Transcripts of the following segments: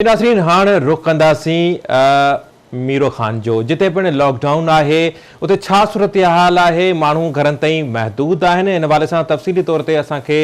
ناظرين هاڻ رخ ڪنداسين ميرو خان جو جتي پڻ لاڪ ڊائون آهي اتي ڇا صورتحال آهي ماڻهو گهرن تائين محدود آهن ان حوالي سان تفصيلي طور تي اسان کي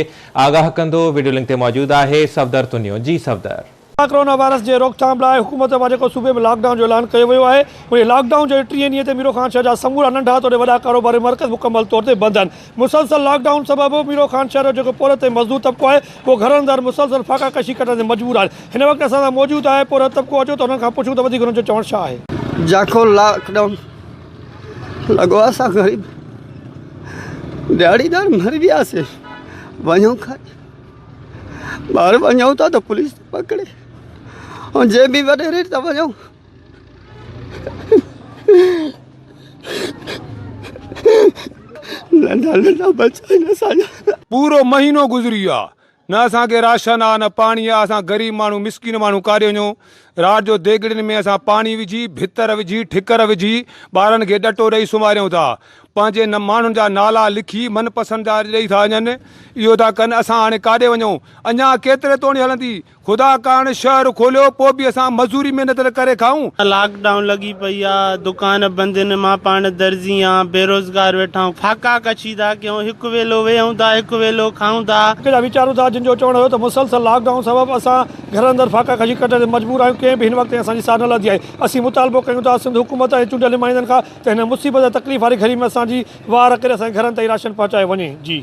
آگاهه ڪندو ويڊيو لنڪ تي موجود آهي صفدر تنيو جي صفدر. ڪورونا ڪورونا وائرس جي روڪٿام لاء حڪومت پاران جيڪو صوبي ۾ لاڪ ڊائون جو اعلان ڪيو ويو آهي انهي لاڪ ڊائون جي ٽئين ڏينهن تي ميرو خان شهر جا سمورا ننڍا توڙي وڏا ڪاروباري مرڪز مڪمل طور تي بند آهن مسلسل لاڪ ڊائون سبب ميرو خان شهر جو جيڪو پورهيت ۽ مزدور طبقو آهي اهو گهرن اندر مسلسل فاقا ڪشي ڪٽڻ تي مجبور آهن هن وقت اسان سان موجود آهي پورهيت طبقو اچو ته انهن کان پڇون ته وڌيڪ انهن جو چوڻ ڇا آهي. جيڪو لاڪ ڊائون لڳو آهي اسان غريب دهاڙيدار مري وياسين وڃون ڪاڏي ٻاهر وڃون ٿا ته پوليس پڪڙي ۽ جي بي وڏي ريٽ تي وڃون پورو مهينو گذري ويو آ نه اسان کي راشن آ نه پاڻي آ اسان غريب ماڻهو مسڪين ماڻهو ڪاڏي وڃون رات جو ديڳڙين ۾ اسان پاڻي وجهي ڀتر وجهي ٺڪر وجهي ٻارن کي ڏٽو ڏئي سمهاريون ٿا پنهنجي ماڻهن جا نالا لکي من پسند جا ڏئي ٿا وڃن اهو ٿا ڪن اسان هاڻي ڪاڏي وڃون اڃان ڪيتري توڻي هلندي خدا ڪاڻ شهر کوليو پوء به اسان مزوري محنت نه ڪري کائون. لاڪ ڊائون لڳي پئي آ دڪان بند ان مان پاڻ درزي آن بيروزگار ويٺا آهون فاقا ڪشي ٿا ڪيون هڪ ويلو ويهون ٿا هڪ ويلو کائون ٿا. هڪ جا ويچارون ٿا جن جو چوڻ هيو ته مسلسل لاڪ ڊائون سبب اسان گهرن اندر فاقا ڪشي ڪٽڻ تي مجبور آهيون ڪنهن به هن وقت تائين اسان جي ساهه نه لڌي آهي اسين مطالبو ڪيون ٿا سنڌ حڪومت ۽ چونڊيل نمائندن کان ته هن مصيبت ۽ تڪليف واري گهڙي ۾ اسان جي وار ڪري اسان جي گهرن تائين راشن پهچايو وڃي جي